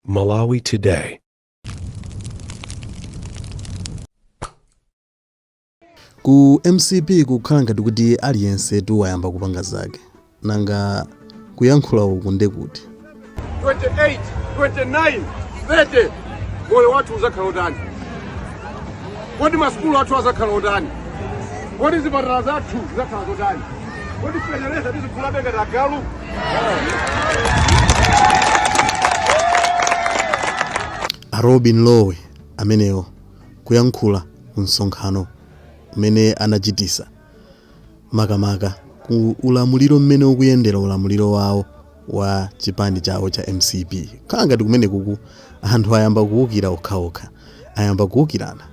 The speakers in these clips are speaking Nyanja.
Malawi Today. ku mcp kukhala ngati kuti aliyense tu wayamba kupanga zake nanga kuyankhula uku ndekuti 28 29 30 moyo wathu uzakhala otani kodi masukulu athu azakhala otani kodi zipatala zathu zizakhala zotani kodi feteleza tizigulabe ngati agalu a lobin lowe amenewo kuyankhula ku msonkhano umene anachitisa makamaka ku ulamuliro mmene ukuyendera ulamuliro wawo wa chipani chawo cha mcp khala ngati kumene kuku anthu ayamba kuwukira okhaokha ayamba kuwukirana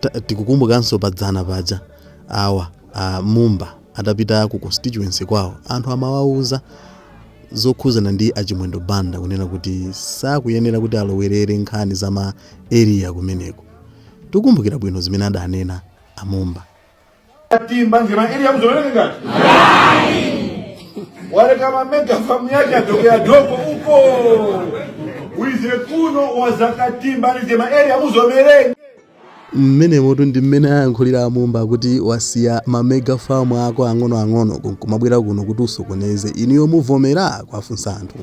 Ta- tikukumbukanso padzana paja awa A Mumba atapita ku constituency kwawo anthu amawauza zokhuzana ndi a Chimwendo Banda kunena kuti sakuyenera kuti alowerere nkhani za ma area kumeneko. Tikukumbukira bwino zimene adanena a Mumba. atimbanizge ma area muzomerenge waleka ma mega famu yake adokowadoko uko wize kuno wazakatimbanizge ma area muzomerenge Mmenemotu ndi mmene ayankhulira a Mumba kuti wasiya ma mega farm ako ang'onoang'onoko nkumabwera kuno kuti usokoneze. Inuyo muvomera? Kuwafunsa anthu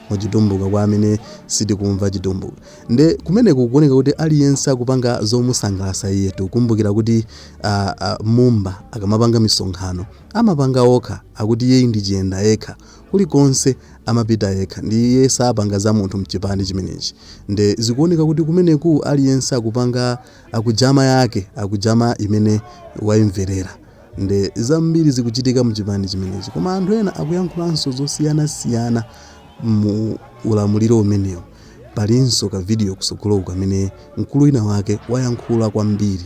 mu chitumbuka kwa amene sitikumva chitumbuka. Nde kumeneku kukuoneka kuti aliyense akupanga zomusangalasa iyetu. Kumbukira kuti a a Mumba akamapanga misonkhano amapanga okha akuti iyeyu ndi chiyenda yekha. kulikonse amapita yekha ndiye sapanga za munthu mchipani chimenechi nde zikuoneka kuti kumeneku aliyense akupanga akujama yake akujama imene waimverera nde zambiri zikuchitika mchipani chimenechi koma anthu ena akuyankhulanso zosiyanasiyana mu ulamuliro umenewu palinso ka video kusogoloku kamene mkulu wina wake wayankhula kwambiri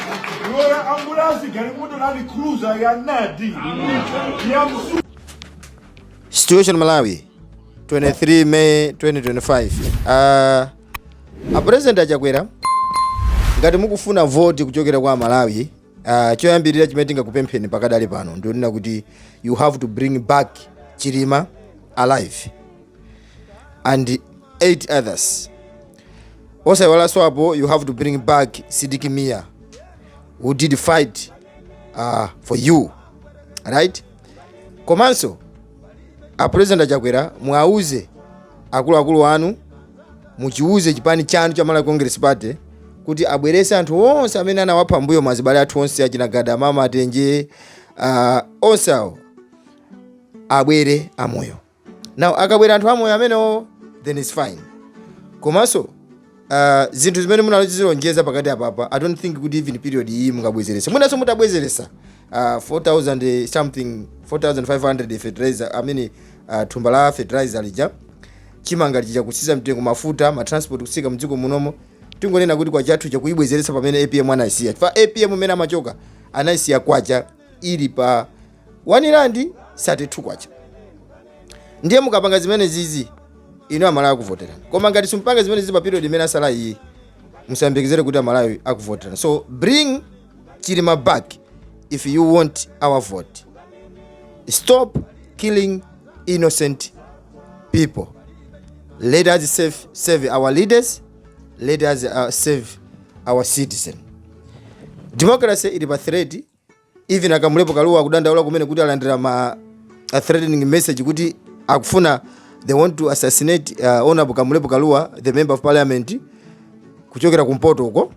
Lorry ambulance galimoto land cruiser ya nadi. Ya msu. Situation Malawi 23 May 2025. Uh, a president a Chakwera ngati mukufuna voti kuchokera kwa aMalawi uh, choyambirira chimene tingakupempheni pakadali pano ndi chonena kuti you have to bring back Chilima alive and eight others osayiwalanso apo you have to bring back sidik mia who did fight uh, for you right komanso a president a chakwera muwauze akuluakulu anu muchiuze chipani chanu cha malawi congress party kuti abwerese anthu onse amene anawapha mbuyomo azibale athu onse achina gadamama matenje uh, onse awo abwere amoyo now akabwera anthu amoyo amenewo then its fine komanso uh, zinthu zimene munazilonjeza pakati apapa i don't think kuti even period iyi mungabwezerese mwinanso mutabwezeresa uh, 4000 something 4500 fertilizer i mean uh, thumba la fertilizer lija chimanga lija kutsika mtengo mafuta matransport kutsika mdziko munomo tingonena kuti kwachathu chakuyibwezeretsa pomwe apm anayisiya ya apm mmene amachoka anayisiya kwacha ili pa 1 rand 32 kwacha ndiye mukapanga zimene zizi inu amalawi akuvoterani koma ngati simpanga zimene zizi pa period imene yasala iyi musayembekezere kuti amalawi akuvoterani so bring chilima back if you want our vote stop killing innocent people let us save our leaders let us uh, save our citizen democracy ili pa threat even akamulepo kaluwa akudandaula kumene kuti alandira ma threatening message kuti akufuna they want to assassinate uh, honorable kamulepo kaluwa the member of parliament kuchokera kumpoto uko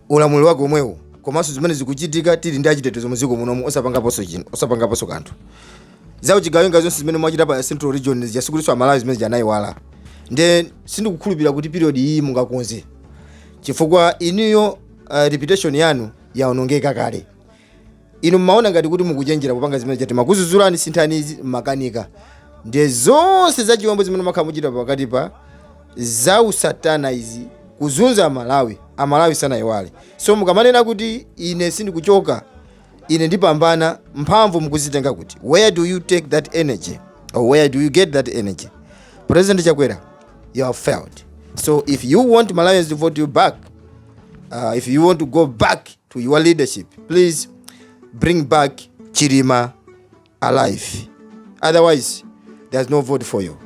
ulamuliro wake omwewo komanso zimene zikuchitika tili ndi achitetezo muziko munomu osapangaponso chinthu osapangaponso kanthu za uchigawenga zonse zimene mwachita pa central region zija sikutiso amalawi zimene zija anayiwala nde sindikukhulupirira kuti period iyi mungakonze chifukwa inuyo uh, reputation yanu yaonongeka kale inu mmaona ngati kuti mukuchenjera kupanga zimene zija atimakudzudzulani sinthani izi mmakanika ndiye zonse za chiwembu zimene mwakhala mukuchita pakati pa za usatana izi kuzunza amalawi amalawi sanayiwale so mukamanena kuti ine sindikuchoka ine ndipambana mphamvu mukuzitenga kuti where do you take that energy or where do you get that energy president chakwera you have failed. So if you want Malawians to vote you back, uh, if you want to go back to your leadership, please bring back Chilima alive. Otherwise, there's no vote for you.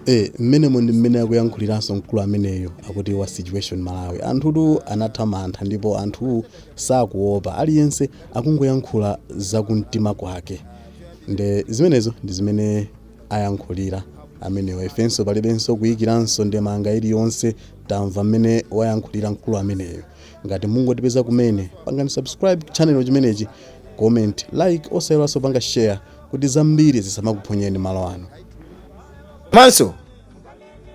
Eh, mmenemo ndi mmene akuyankhuliranso mkulu ameneyo akuti wa situation malawi anthutu anatha mantha ndipo anthu sakuopa aliyense akungoyankhula zakumtima kwake nde zimenezo ndi zimene ayankhulira amenewa. Ifenso palibenso kuikiranso ndemanga iliyonse tamva mmene wayankhulira mkulu ameneyo. Ngati mungotipeza kumene, pangani subscribe channel chimenechi, comment, like osayiwalanso kupanga share kuti zambiri zisamakuphonyeni malo ano. Komanso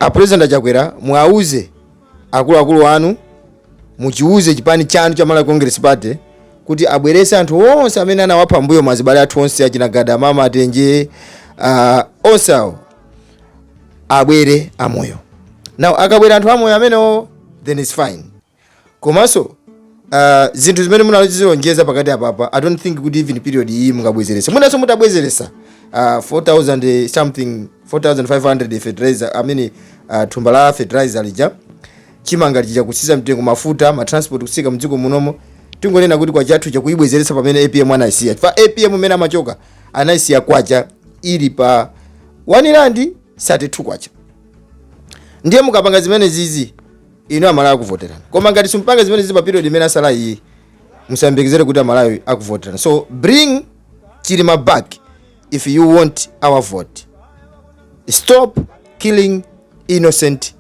a President a Chakwera muwauze akuluakulu anu muchiwuze chipani chanu cha Malawi Congress Party kuti abwerese anthu onse amene anawapha mbuyomu azibale athu onse achina gada mama atenje uh, onse awo abwere amoyo now akabwera anthu amoyo amenewo then it's fine komanso Uh, zinthu zimene munazilonjeza pakati apapa i don't think kuti even period iyi mungabwezerese mwinanso mutabwezeresa uh, 4000 something 4500 fertilizer i mean uh, thumba la fertilizer lija chimanga lija kutsika mtengo mafuta ma transport kutsika mdziko munomo tingonena kuti kwacha yathu ija kuibwezeretsa pamene apm anayisiya chifukwa apm mmene amachoka anayisiya kwacha ili pa wani randi 32 kwacha ndiye mukapanga zimenezizi inu amalawi akuvoterani koma ngati simpanga zimenezi pa period imene yasala iyi musayembekezere kuti amalawi akuvoterani so bring chilima back if you want our vote stop killing innocent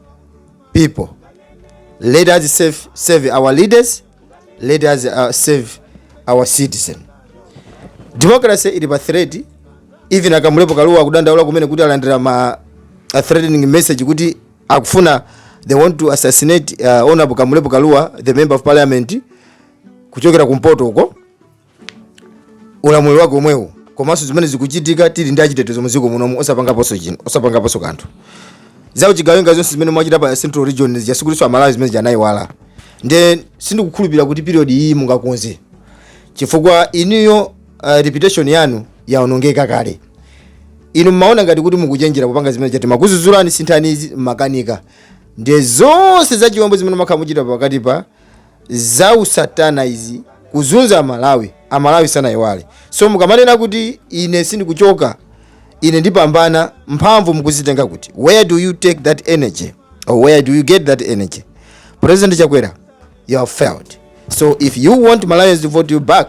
people let us save, save our leaders let us uh, save our citizen democracy ili pa threat even a kamlepo kalua akudandaula kumene kuti alandira ma threatening message kuti akufuna they want to assassinate uh, honorable kamlepo kalua the member of parliament kuchokera kumpoto uko ulamuliro wake omwewo komanso zimene zikuchitika tili ndi achitetezo muziko munomu osapangaponso chino osapangaponso kanthu za uchigawenga zonse zimene mwachita pa central region zikasikuliso amalawi zimene sanaiwale nde sindikukhulupirira kuti period iyi mungakonze chifukwa inuyo uh, reputation yanu yaonongeka kale inu mmaona ngati kuti mukuchenjera kupanga zimene ija anthu amakuzuzulani sinthani izi mmakanika ndiye zonse za chiwembu zimene mwakhala mukuchita pakati apa za usatana izi kuzunza amalawi amalawi sanayiwale so mukamanena kuti ine sindikuchoka ine ndipambana mphamvu mukuzitenga kuti where do you take that energy or where do you get that energy president chakwera you have failed so if you want malawians to vote you back